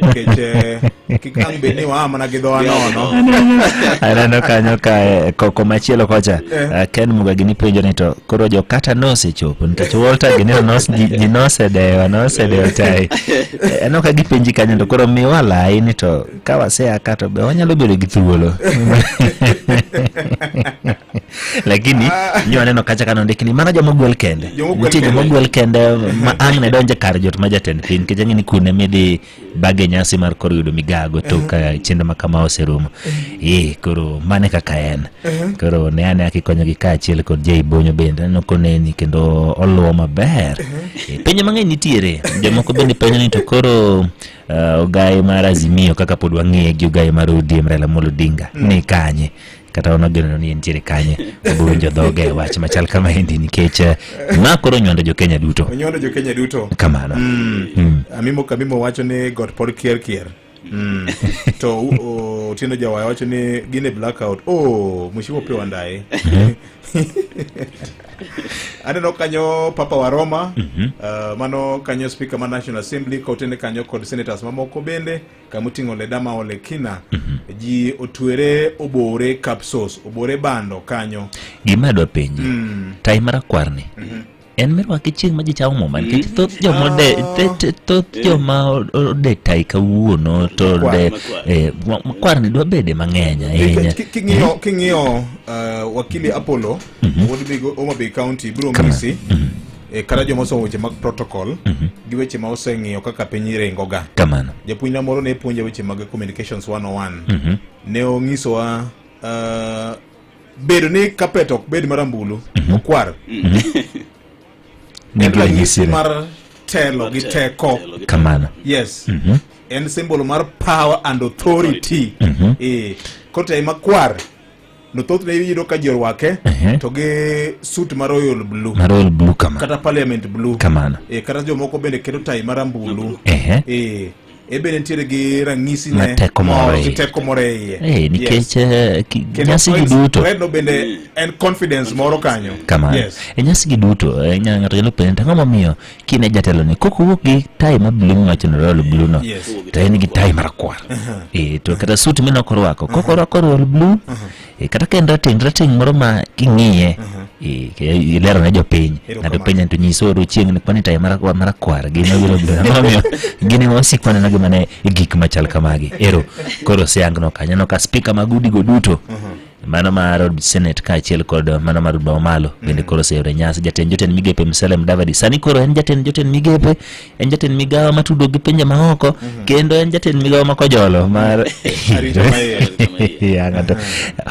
nikech eh, kik ang' bed ni waa mana gi dhowa nono aneno kanyo ka eh, ko- komachielo kocha Eh. ah, ken mugagi nipenjo ni to koro jokata nosechopo nikech walter gi ni nos- ji ji nosedewa nosedewa tayi Eh, aneno ka gipenji kanyo to koro miwa layi ni to ka wasea ka to be wanyalo bedo gi thuolo lakini ah. nyo aneno kacha kano ndikni mana joma ogwel kende nitie joma ogwel kende ma ang' ne donje kar jot ma jatend piny nikech ang'e ni kune midhi bage nyasi mar koro yudo migago to ka uh-huh. chenro ma kama oserumo uh-huh. ee koro mane kaka en uh-huh. koro ne ane aki konyogi kaachiel kod jei bonyo bende aneno koneni kendo oluwo maber e, penjo mang'eny nitiere jomoko bende penjo ni to koro uh, ogaye mar azimio kaka pod wang'eye gi ogaye mar odm raila molo odinga mm. ni kanye kata wan wageneno ni entiere kanye wabowinjo dhoge e wach machal kama endi nikech eh, ma koro onywando jokenya duto onyondo jo kenya duto kamano Mm. amimo kamimo wacho ni got pod kier kier Mm. to u- o- otieno jawaya wacho ni gin e blackout o mushiwo pe wandaye aneno kanyo papa wa roma uh, mano kanyo speaker ma national assembly kaotene kanyo kod senators mamoko bende kamoting'o leda ma ole kina mm -hmm. ji otwere obore kapsos obore bando kanyo gima adwa penji mm. tai marakwarni mm -hmm. en mirwake chieng' ma ji chamo muma nikech mm. thoth joma ode ah. thoth eh. joma ode tai kawuono to ode eh, makwarni dwa bede mang'eny ahinya king'iyo eh? uh, wakili apollo mm -hmm. wuod homabay county biro misi mm -hmm. e, kata joma osomo weche mag protocol mhm. gi weche ma oseng'iyo kaka piny ringoga kamano japuonjna moro ne puonja weche mag communications 101 mhm. ne onyisowa uh, bedo ni kapet ok bed marambulu mhm. okwar en ranyisi mar telo gi teko kamano yes en simbolo mar power and authority e, koro makwar no thothne iyudo ka ji orwake Ehe. to gi suit ma royal blue na royal blue kama kata parliament blue kamano e, kata jomoko bende keto tai marambulu ehe e, e bende nitiere gi rang'isi Ma ne teko moro moro- iye. teko moro e iye Eh, Yes. nikech eh, ki- Kendo nyasi gi it's- duto redno bende en confidence moro kanyo kamano Yes. e nyasi gi duto eh, nya- ng'ato nyalo penjo to ang'o momiyo kine jatelo ni kok owuok gi tai ma blu miwacho ni royal blu no to en gi tai marakwar e, to kata sut mene ok orwako kok orwako royal blu e, kata ka en rateng' rateng' moro ma king'iye e, ilero ne jopiny ng'ato penja to nyise oru chieng' ni kwani tai marakwar gi mabiro blu momiyo gin ema wasik waneno gi mane gik machal kamagi ero koro siangno kanyo no ka spika mag udigo duto mano mar od senate kaachiel kod mano mar od mamalo bende mm. koro oseyore nyasi jatend jotend migepe Musalia Mudavadi sani koro en jatend jotend migepe en jatend migawo matudo gi pinje maoko mm-hmm. kendo en jatend migawo makojolo mar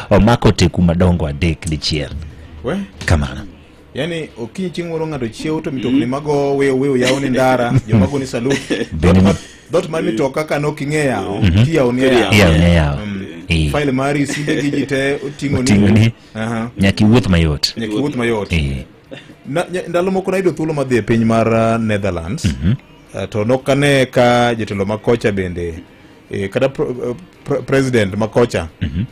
omako teku madongo adek dichiel kamano Yaani okinyi chieng' moro ng'ato chiew to mitokni mago weyo weyo yawo ni ndara joma go ni salut dot mar mitoka ka nok ing'e yawo mhm. tiyawo ni yawo ni yawo mm. eh. file mari simbe gi ji te oting'o ni nyaka iwuoth mayot nyaka iwuoth mayot eh. ndalo moko nayudo thuolo madhi e piny mar uh, Netherlands mhm. uh, to nok ane ka jotelo makocha bende eh, kata uh, president makocha mhm.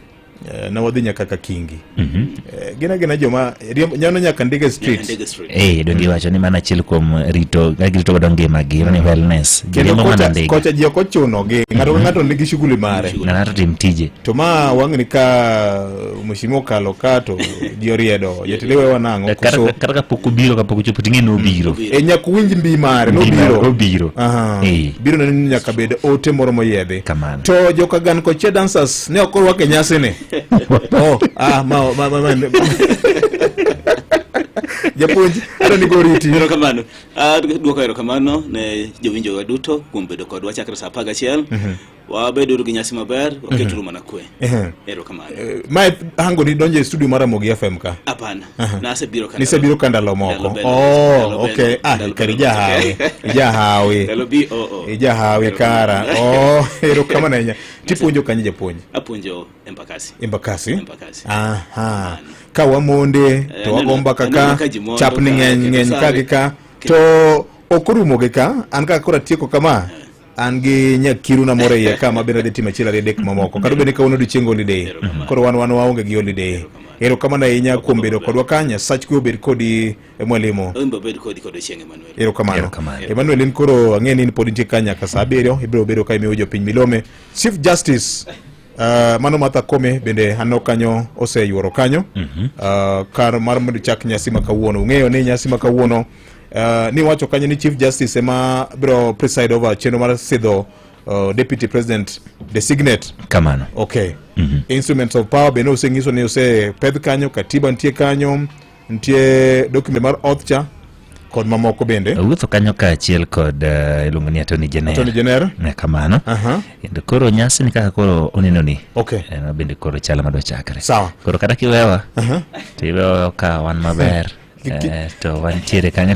Eh, na wadhi nyaka ka kingi mm -hmm. e, eh, gina gina joma nyano nyaka ndege street eh donge mm. wacho ni mana achiel kuom rito girito godo ngima gi ni wellness kendo kocha kocha ji ok ochuno gi mm-hmm. ng'ato ka ng'ato nigi shughuli mare na ng'ato tim tije to ma wang'ni ka mheshimiwa okalo ka to ji oriedo jatende we wanang'o koso kata ka pok obiro ka pok ochopo ting'e ni obiro mm. e nyaka winj mbi mare nobiro obiro eh biro neno nyaka bed ote moro moyedhi kamano to joka gan koche dancers ne ok orwak e nyasini oh, ah, ma, ma, ma, ma, japuonj adwa ni goriti erokamano Ah, dwoko erokamano ne jowinjowa duto kuom bedo kodwa chakre sa apar gachiel wabeduru gi nyasi maber waketuru mana kwe Ehe. erokamano Eh, mae hango ni donjo e studio mar amogi fm ka hapana Uh-huh. Nisebiro ka ndalo moko. Oh, okay. Ah, kari jahawi. Jahawi. Ndalo bi o o. Jahawi kara. Oh, ero kama nanya. Tipuonjo kanye japuonj? Apuonjo Embakasi. Embakasi? Embakasi. Aha. Ka wamonde eh, to wagomba kaka chapni ng'eny ng'eny ka gi ka to ok orumo gi ka an kaka koro atieko kama eh. an gi nyakiru na moro iye ka mabende dhi timo achiel ariyo adek mamoko kata bende kawuono odiochieng holiday koro wan wan waonge gi holiday erokamano ahinya kuom bedo kodwa ka nyasach kwe obed kodi e mwalimu erokamano emmanuel in koro ang'e ni pod nitie ka nyaka sa abiriyo ibiro bedo ka imiyo jopiny milome chief justice Uh, mano Martha Kome bende anno kanyo oseyuoro kanyo mm -hmm. uh, kar mar mondo chak nyasi ma kawuono ung'eyo ni nyasi ma kawuono uh, ni wacho kanyo ni Chief Justice ema biro preside over chenro mar sidho uh, Deputy President designate kamano okay mm -hmm. instruments of power bende oseng'iso ni osepedh kanyo katiba nitie kanyo Nitie document mar oth cha kod mamoko bende wuotho kanyo kaachiel kod uh, iluongo ni atoni jeneratoni jenera ne kamano kendo koro nyasi ni kaka koro oneno ni okay. en eh, bende koro chala madwa chakre sawa koro kata kiwewa uh -huh. to iwewa ka wan maber eh, to wantiere kanyo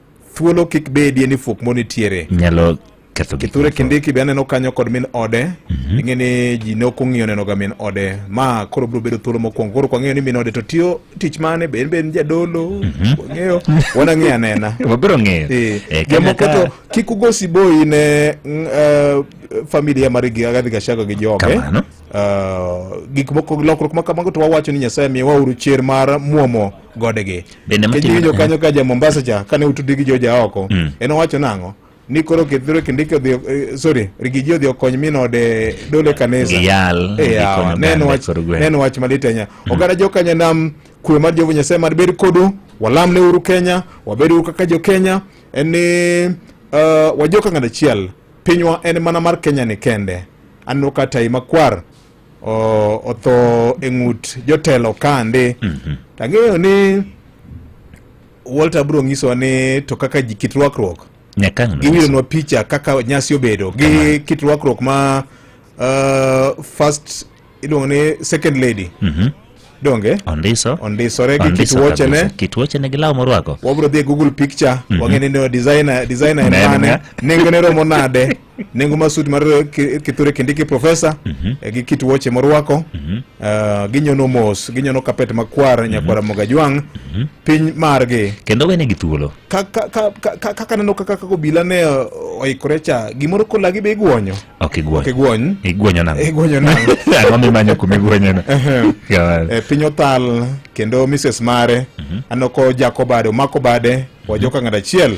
thuolo kik bedie ni fuok mo nitiere nyalo ketho gik kithure kindiki be aneno kanyo kod min ode mhm. ing'e ni ji ne ok ong'iyo nenoga min ode ma koro biro bedo thuolo mokwongo koro kwang'eyo ni min ode to tiyo tich mane be en be en jadolo mhm. wang'eyo wanang'eyo anena wabiro ng'eyo eh, eh, jamoko to kik ugo siboi ne mm, eh, familia mar Rigathi Gachagua gi joge gik moko lokruok ma kamago to wawacho ni Nyasaye miyowa uru chier mar muomo godegi Bende matimo- kijiwinjo kanyo ka ja mombasa cha kane utudi gi joja oko Mm. en owacho nang'o ni koro kithiro kindiki odhi eh, sorry rigiji odhi okony min ode dole kanisa Giyal, Eh, yawa, gikonyo ne en oganda wach- kor gweng'. ne en wach malit ahinya oganda jokanya nam kwe mar jehova nyasaye mar bed kodu walam ne uru kenya wabed uru kaka jokenya en ni eh, wajoka ng'at achiel pinywa en mana mar kenya ni kende aneno ka tai makwar otho e ng'ut jotelo kande mhm. tang'eyo ni Walter bro nyisowa ni to kaka ji kit rwakruok giwilonwa picha kaka nyasi obedo gi kit rwakruok ma uh, first iluongo ni second lady mm -hmm. donge ondiso ondisore gi kit wuochene kit wuochene gi law morwako wabro dhi e google picture mm -hmm. wang'e ni designer designer en mane nengone romo nade nengo mar suit mar kithure kindiki profesa mm -hmm. e, gi kit wuoche morwako mm -hmm. uh, ah, ginyono mos ginyono kapet makwar mm -hmm. nyakwara moga jwang mm -hmm. piny margi kendo wene gi thuolo kaka neno kaka kaka obila ne oikore cha gimoro kolagi be igwonyo ok igwony ok igwony igwonyo nang igwonyo nang ang'o mimanyo kuma igwonyono e, piny othal kendo mrs mare mm -hmm. anoko jako bade omako bade wajoka ng'at achiel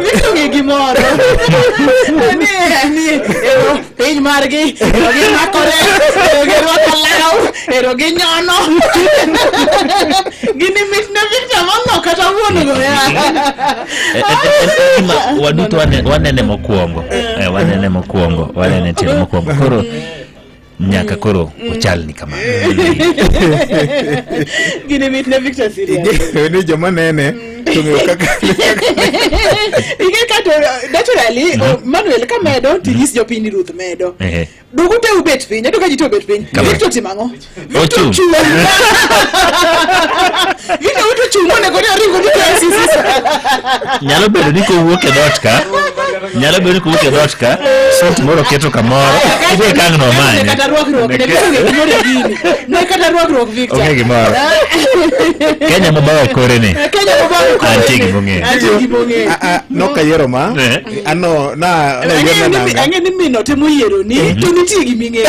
Visto che chi muore? Piny margi, ero gi makore, ero gi rwako law, ero gi nyono. Gini mit ne picha mono kata wuon go ya. Waduto wanene mokwongo. Eh, wanene mokwongo, wanene timo mokwongo. Koro nyaka koro ochal ni kamano gini mit ne victor serious ni joma nene tong'eyo kaka ing'e ka to naturally o- manuel ka medo tinyis jopiny ruth medo Ehe. dugu te ubet piny ato ka ji te obet piny Kama. victor timo ang'o victor Ochung'. ochung' victor uto chung' monego ni oringo ni KCC. nyalo bedo ni kowuok e dot ka nyalo bedo ko wuotho e dhoot ka sot moro keto kamoro idhi kang' nomanye kata rwakruok ne koro ne gimoro e gini ne kata rwakruok Victor onge gimoro kenya mobawo e kore ni Eh, Kenya mobawo kore Antie ni. gimong'eyo. Antie gimong'eyo. Ah, ah, nokayiero ma Eh. ano na Ang'eyo nayiero ni- nanga ang'eyo ni mino temo yiero ni to nitie giming'eyo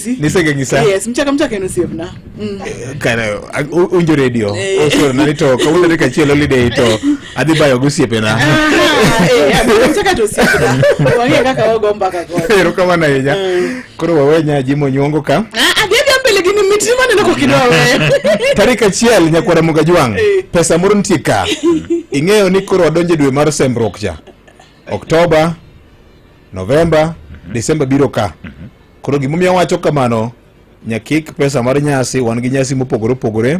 nisenge ngisa yes mchaka mchaka eno sievna mm. eh, kana unjo radio eh. osoro na nito ka unjo ka chielo lide ito adhi bayo gusiepe na eh mchaka to sievna wange kaka wago mbaka kwa pero kama na yenya mm. koro wawe nya jimo nyongo ka ah adhi ah, mbele gini mitini mane nako kidogo wewe tarika chiel nyakwara muga jwang eh. pesa moro nitie ka ing'eyo ni koro wadonje dwe mar sembruok cha oktoba Novemba, mm -hmm. Desemba biro ka. Mm -hmm. Koro gimomiyo awacho kamano, nyakik pesa mar nyasi, wan gi nyasi mopogore opogore,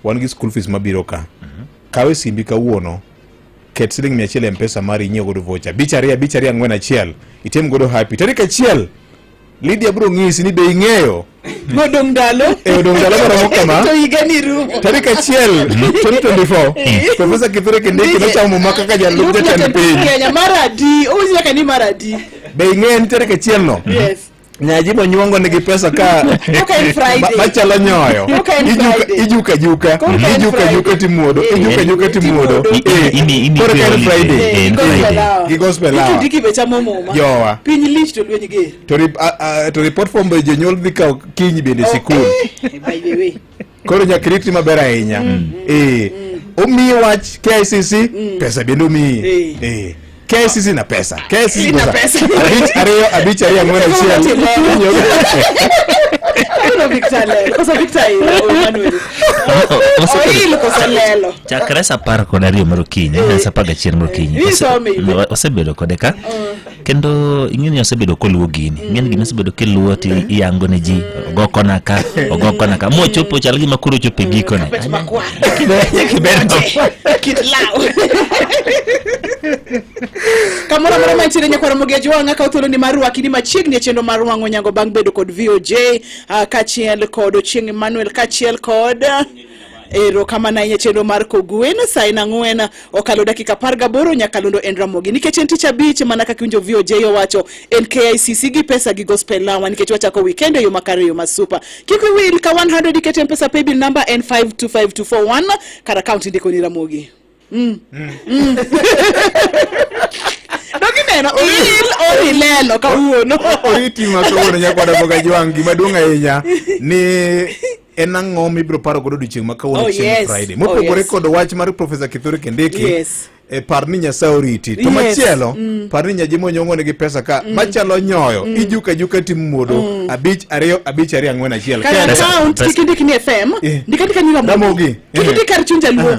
wan gi school fees mabiro ka. Mm -hmm. Kawe simbi kawuono, ket siling mia achiel e mpesa mari inyiew godo vocha. Bich ariyo, bich ariyo ang'wen achiel, itim godo happy. Tarik achiel, Lydia bro ng'isi ni be ing'eyo modong ndalo e odong ndalo maromo kama to higa ni rumo tarik achiel 2024 profesa kithure kindiki nochamo muma kaka jalup jatend piny kenya mar adi owinjo nyaka ni mar adi be ing'eyo ni tarik achiel no yes nyaji monyuongo nigi pesa ka machalo nyoyo ijuka juka ijuka juka timuodo ijuka juka timuodo koro ka en friday gi gospel hour jowa piny lich to lweny ger to, rip, uh, uh, to report form by jonyuol dhi kawo kiny bende oh, sikul eh, by the way koro nyaka iriti maber ahinya mm. eh mm. omiyi wach KICC mm. pesa bende omiyi eh, eh. KICC na pesa KICC na pesa abich ariyo abich ariyo ang'wen achiel Victor Lelo. Kosa Victor Lelo. Oil kosa Lelo. chakre sa apar kod ariyo mar okinyi eh, sa apar gachiel mar okinyi osebedo kode ka mm. kendo ing'eni osebedo koluwo gini mm. ing'eni gini osebedo kiluwo ti iyango ne ji ogo kona ka ogo kona ka mochopo chal gima koro ochopo e gikone kamoro amora mantiere nyakwaro mogeji wang'a kawo thuoloni mar rwakini machiegni e chenro mar wang'o nyango bang' bedo kod voj ah, kaachiel kod ochieng' emmanuel kaachiel kod Erokamano ahinya chenro mar Kogwen saa en ang'wen okalo dakika apar gaboro Nyakalundo en Ramogi nikech en tich abich mana kaka winjo VOJ owacho en KICC gi pesa gi gospel lawa nikech wachako weekend e yo makare yo masupa kik wil ka 100 iket mpesa paybill number en 525241 kar account ndiko ni Ramogi Mm. Mm. Mm. Dokineno oril orilelo kawuono. Oriti ma kawuono nyakwada boga jwang' gima duong' ahinya ni en ang'o mibiro paro godo odiochieng' ma kawuono oh, chieng' Friday. Oh, Mopogore kod wach mar Professor Kithure Kindiki. Yes. E par ni Nyasaye oriti. To machielo, mm. par ni Nyaji monyong'o nigi pesa ka mm. machalo nyoyo, mm. ijuka juka tim muodo, mm. abich ariyo, abich ariyo ang'wen achiel. Kaya account, kikindiki ni FM, eh. ndikandika ni Ramogi. Kikindiki kar chunja luo.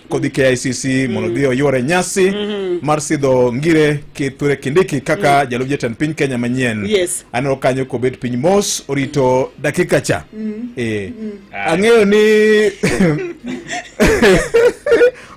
kodhi KICC mm. mondo dhi oyuore nyasi mm -hmm. mar sidho ngire kithure kindiki kaka mm. jalup jatend piny Kenya manyien yes. aneno kanyo kobet piny mos orito mm. dakika cha mm. e. mm. ang'eyo ni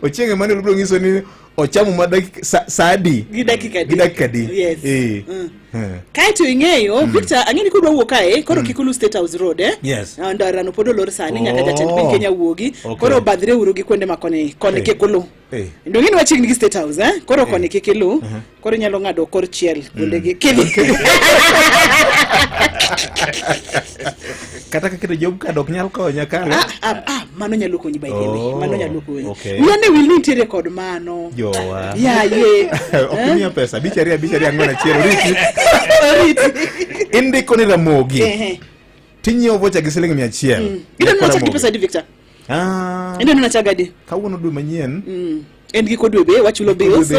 ochienge mane lubro ng'iso ni ochamu ma sa, saa di gi dakika di yes. e. mm. Eh. kaeto ing'eyo mm. Victor ang'e ni kodwa wuok kae koro mm. kik ulu State House Road eh? yes. Ah, ndarano pod olor sani nyaka oh. jatend piny Kenya wuogi okay. koro badhre uru gi kuonde ma koni koni eh. kik ulu eh. ndo ng'e ni wachiegni gi State House eh? koro koni kik ilu uh-huh. koro inyalo ng'ado kor chiel kuonde mm. gi kidhi kata ka keto job card ok nyal konya ka ah, ah, ah, mano nyalo konyi by the way oh, mano nyalo konyi okay. miya ne will nitiere kod mano jowa ya ye ok eh? miya pesa bicharia bicharia ng'wen achiel oriti oriti indiko ni ramogi tinyiewo vocha gi siling mia achiel mm. ido nuna chagi pesa di victor ah ido nuna chagadi kawuono dwe manyien mm. en giko dwe be wachulo bills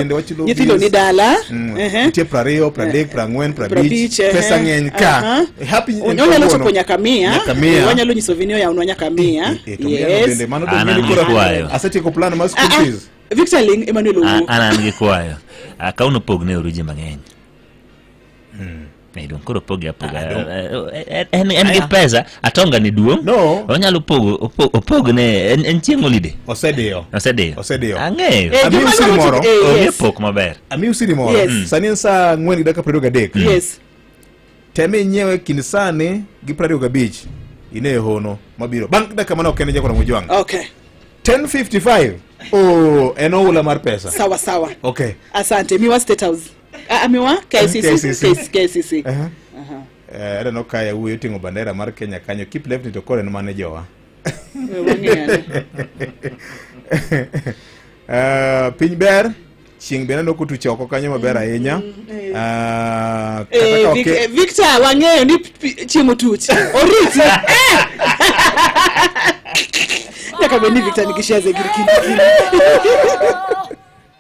nyithindo ni dala mm. nitie prariyo pradek eh, prang'wen prabich eh, pesa ng'eny ka eh, onyalo chopo nyaka mia wanyalo nyiso vini oyawnwa nyaka mia asetieko plan ma school ah, ah. fees victor ling emmanuel owuo ah, an an gi kwayo ka unopogne oru ji mang'eny hmm. Medo koro poge apoga. En en gi pesa atonga ni duong. No. Onyalo pogo opog ne en en chieng holiday. Osediyo. Osediyo. Osediyo. Ang'eyo. Eh, Ami usiri moro. Eh, Onge pok maber. Ami usiri moro. Mm. Sani en saa ang'wen gi dakika piero ariyo gadek. Mm. Yes. Teme inyewe kind sani gi piero ariyo gabich ine hono mabiro. Bang' dakika mane ok en jakora mojwang'. Okay. 10:55. Oh, en oula mar pesa. Sawa sawa. Okay. Asante. Miwa State House. Ah, miwa KCC KCC uh-huh. uh-huh. eh, I don't know kaya wuyo tingo bandera mar Kenya kanyo keep left to kore mane jowa uh, piny ber chieng' be naneno kutuche oko kanyo maber ahinya mm-hmm. ah, eh, eh, Victor wang'eyo ni chieng' otuch oriti nyaka bed ni Victor nikishia zegirikini